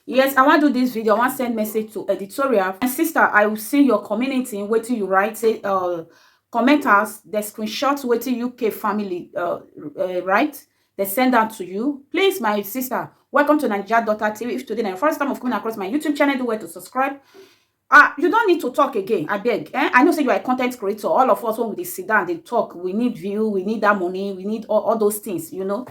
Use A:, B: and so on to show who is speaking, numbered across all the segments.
A: yes i wan do this video i wan send message to editorial my sister i will see your community in wetin you write say uh commenters the screenshot wetin uk family uh, uh write they send that to you please my sister welcome to nigeria daughter tv if today na your first time of coming across my youtube channel do well to subscribe Ah you don't need to talk again abeg eh I know say you are a content creator all of us when we dey sit down dey talk we need view we need that money we need all, all those things you know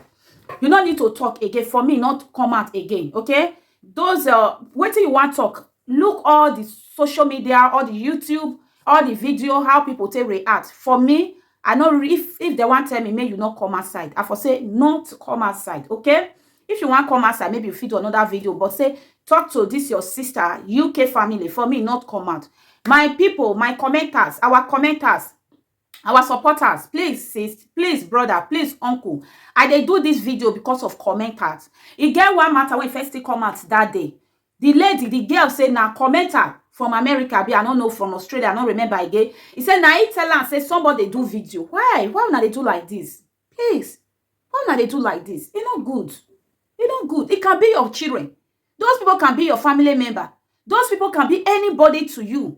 A: you no need to talk again for me not come out again okay those uh wetin you wan talk look all the social media all the youtube all the video how people take react for me I know if if they want tell me, may you not come outside. I for say not come outside, okay? If you want come outside, maybe you fit do another video, but say talk to this your sister, UK family, for me not come out. My people, my commenters, our commenters, our supporters please sis please brother please uncle i dey do this video because of commenters e get one matter wey first still come out that day di lady di girl say na commenter from america abi i no know from australia i no remember again e say na e tell am say somebody dey do video why why una dey do like this please why una dey do like this e no good e no good it can be your children those people can be your family member those people can be anybody to you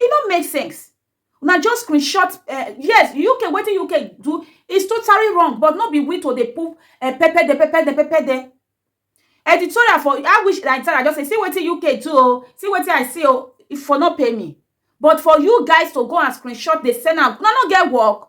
A: e no make sense una just screenshot eh, yes uk wetin uk do is totally wrong but no be we to dey poop eh, pepper de pepper de pepper de editorial for i wish like i just say see wetin uk do o see wetin i see o if for no pay me but for you guys to go and screenshot dey send am una no get work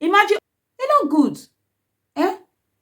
A: Imagine e no good eh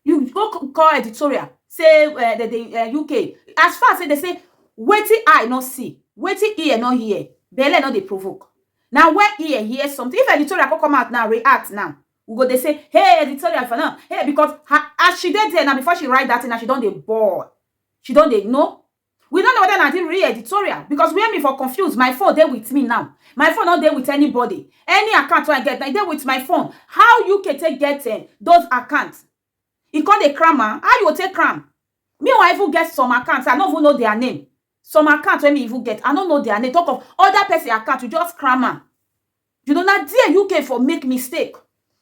A: you go call editorial say eh, dem dey eh, uk as far say dem say wetin eye no see wetin ear no hear belle no dey provoke na when ear hear something if editorial come come out now react now we go dey say hey editorial for now hey because her as she dey there now before she write that thing now she don dey ball she don dey know we no know whether na the real editorial because where me for confuse my phone dey with me now my phone no dey with anybody any account wey i get na e dey with my phone how uk take get eh, those accounts e come dey cram am how you go take cram me wan even get some accounts i no even know their name some accounts wey me even get i no know their name talk of other person account you just cram am You know, na there UK for make mistake.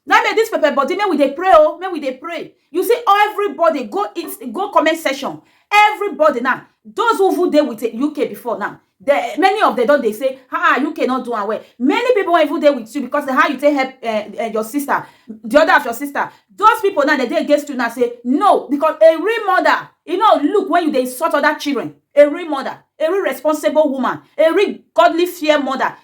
A: Now make this pepper body, make we dey pray, oh, make we dey pray. You see, everybody go it, go comment section. Everybody now, those who who there with the UK before now, the, many of them don't they say, ah, UK not doing well. Many people even there with you because how you take help uh, uh, your sister, the other of your sister. Those people now, they, they against you now say, no, because a real mother, you know, look when you they insult other children, a real mother, a real responsible woman, a real godly fear mother,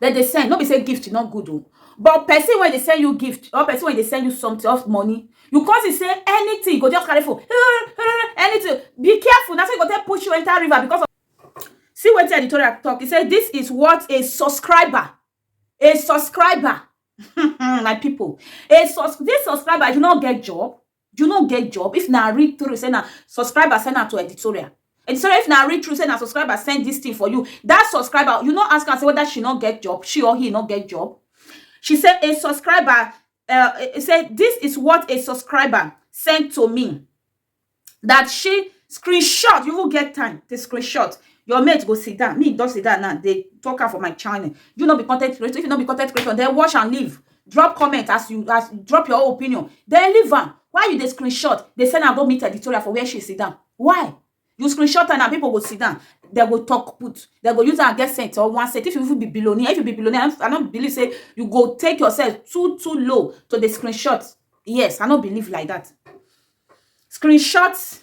A: dem dey send no be say gift no good o but person wey dey send you gift or person wey dey send you something or money you come see say anything you go just carry phone anything be careful na so e go take push you enter river because of see wetin editorial talk e say this is what a subscriber a subscriber my people a sus this subscriber if you no get job You no get job? If na read through say na subscriber send am to editorial. Editorial if na read through say na subscriber send this thing for you. That subscriber, you no ask am say whether she no get job, she or he no get job. She say a subscriber uh, eh, eh, say this is what a subscriber sent to me that she screenshot you will get time to screenshot your mate go sit down me don't sit down now they talk her for my channel you not be content creator if you not be content creator then watch and leave drop comment as you as drop your own opinion then leave am why you dey screenshot dey send am go meet editorial for where she sit down why you screenshot am na people go sit down they go talk put they go use am get cent or one cent if you even be billionaire if you be billionaire i no believe say you go take yourself too too low to dey screenshot yes i no believe like that screenshot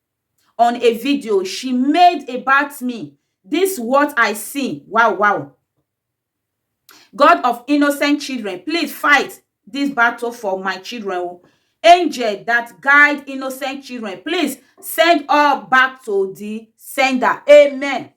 A: on a video she made about me, dis what I see, wow wow. God of innocent children please fight dis battle for my children o, angel dat guide innocent children please send all back to di sender, amen.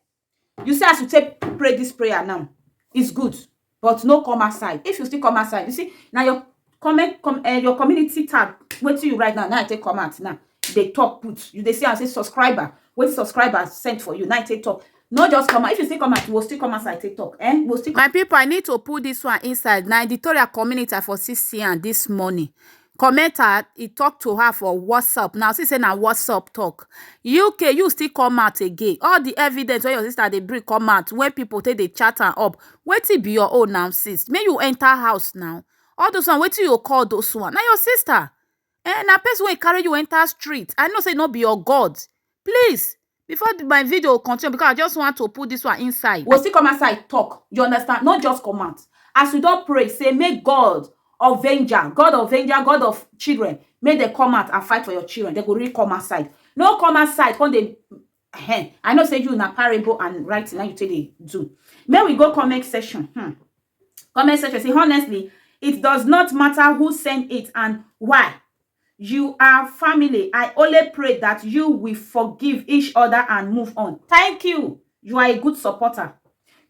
A: you see as you take pray dis prayer now is good but no come outside if you still come outside you see na your comment com uh, your community tab wetin you write now now i take come out now dey talk put you dey see am say subscriber wetin subscriber send for you now i take talk no just come out if you still come out you go still come outside take talk eh you go still. my people i need to put this one inside na editorial community i for see see am this morning comment her he talk to her for whatsapp now see say na whatsapp talk uk you still come out again all the evidence wey your sister dey bring come out wey people take dey chat am up wetin be your own now sis make you enter house now all those one wetin you call those one na your sister eh na person wey carry you enter street i know say no be your god please before my video continue because i just want to put this one inside we we'll still come outside talk you understand not just come out as we don't pray say make god of vengeance god of vengeance god of children make them come out and fight for your children they go really come outside no come outside come they hen i know say you na parable and writing now you take dey do May we go comment section hmm. comment section say honestly it does not matter who send it and why You are family I only pray that you will forgive each other and move on thank you you are a good supporter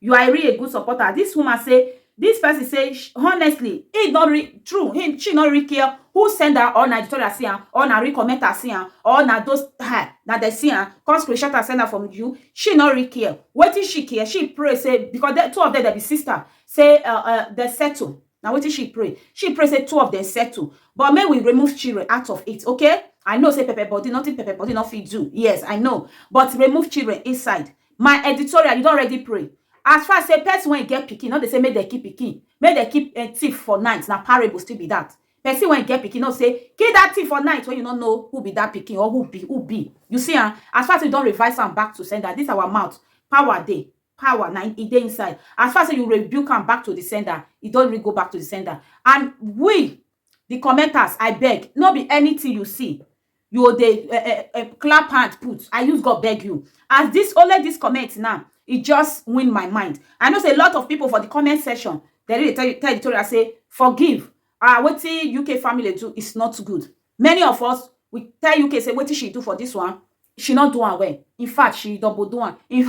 A: you are really a good supporter this woman say this person say sh- honestly he not re true he she not really care who send her or na editorial see am or na real commenter see am or na those her na dey see am come screenshot am send am from you she not really care wetin she care she pray say because the two of them dey be sister say uh, uh, they settle na wetin she pray she pray say two of them settle but make we remove children out of it okay i know say pepper body nothing pepper body no fit do yes i know but remove children inside my editorial you don already pray as far as say person wey get pikin no dey say make dem keep pikin make dem keep eh, thief for night na parable still be that person wey get pikin no say kill that thief for night when you no know who be that pikin or who be who be you see am ah, as far as you don revise am back to sender this our mouth power dey power na im e dey inside as far as sey you rebuke am back to di sender e don really go back to di sender and we di commenters I beg no be anything you see you go dey um um clap hand put I use God beg you as dis only dis comment now e just win my mind I know sey a lot of people for di comment section dem really dey tell Victoria sey forgive um wetin UK family do is not good many of us we tell UK sey wetin she do for dis one she no do am well in fact she double do am in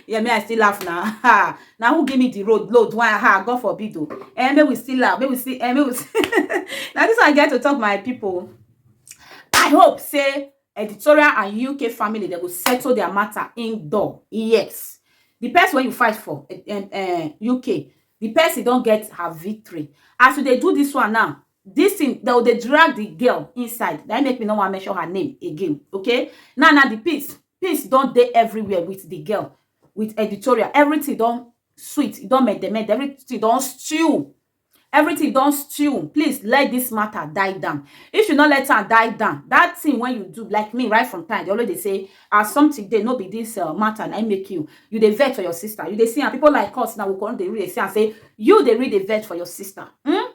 A: yeah me i still laugh na ha na who give me the road load why ha god forbid o eh make we still laugh make we still eh make we na this one i get to talk my people i hope say editorial and uk family dem go settle their matter indoor yes the person wey you fight for uh, uh, uk the person don get her victory as we dey do this one now this thing dem go dey drag the girl inside na im make me no wan mention her name again okay now now the peace peace don dey everywhere with the girl with editorial everything don sweet e don mendement everything don stew everything don stew please let this matter die down if you no let am die down that thing wey you do like me right from time i dey always dey say as something dey no be this uh, matter na im make you you dey vex for your sister you dey see am people like us now we come dey read dey see am say you dey read dey vex for your sister hmm?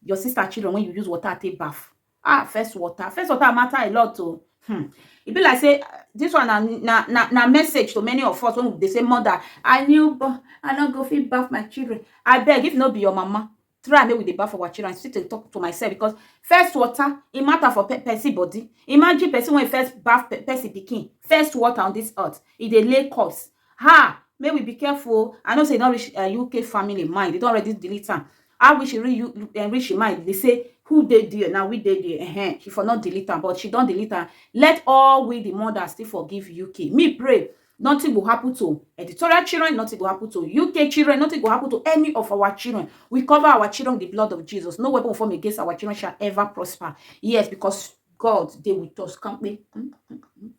A: your sister children when you use water take bath ah first water first water matter a lot o hmm. e be like say this one na na na na message to many of us when they say mother i knew but i no go fit bath my children I beg if no be your mama try make we dey baff our children still dey talk to myself because first water e matter for pe person body imagine person wey first baff pe person pikin first water on this earth e dey lay corpse Ha! Make we be careful o. I know say e don reach uh, UK family mind. They don already delete am. How we should reach, uh, reach mind? They say, who dey there? Now we dey there. Uh -huh. She for not delete am, but she don delete am. Let all we the mothers still forgive UK. Me pray nothing go happen to editorial children nothing go happen to uk children nothing go happen to any of our children we cover our children with the blood of jesus no weapon formed against our children shall ever prosper yes because god dey with us kampe. Mm, mm, mm.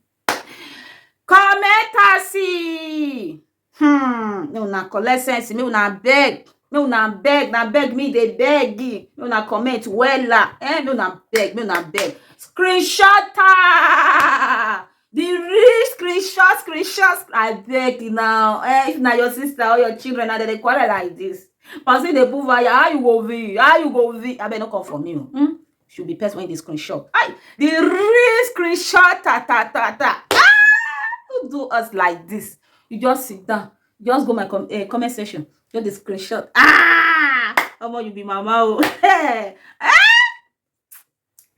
A: Commentary hmm make una collect sense make una beg make una beg na beg me dey beg make una comment wella eh make una beg make una beg screenshot am the real screenshot screenshot abeg na eh if na your sister or your children na dem dey quarrel like this person dey put fire how you go feel how you go feel abeg no come for me o hmm should be person wey dey screenshot ay the real screenshot ta ta ta ta ah who do us like this you just sit down you just go my com uh, comment section just dey screenshot ah omo you be mama o eh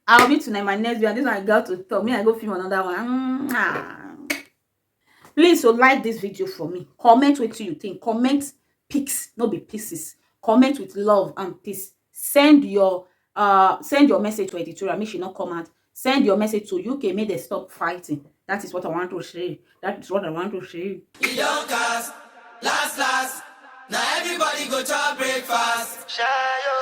A: I'll be tonight my next video. This one I got to talk. Me, I go film another one. Mm -hmm. Please o like dis video for me, comment wetin you think, comment pics no be pieces, comment with love and peace, send your um send your message to editorial make she no come out, send your message to UK make dem stop fighting that is what I want to say, that is what I want to say. E don cast, last last, na everybody go chop breakfast. Shayo.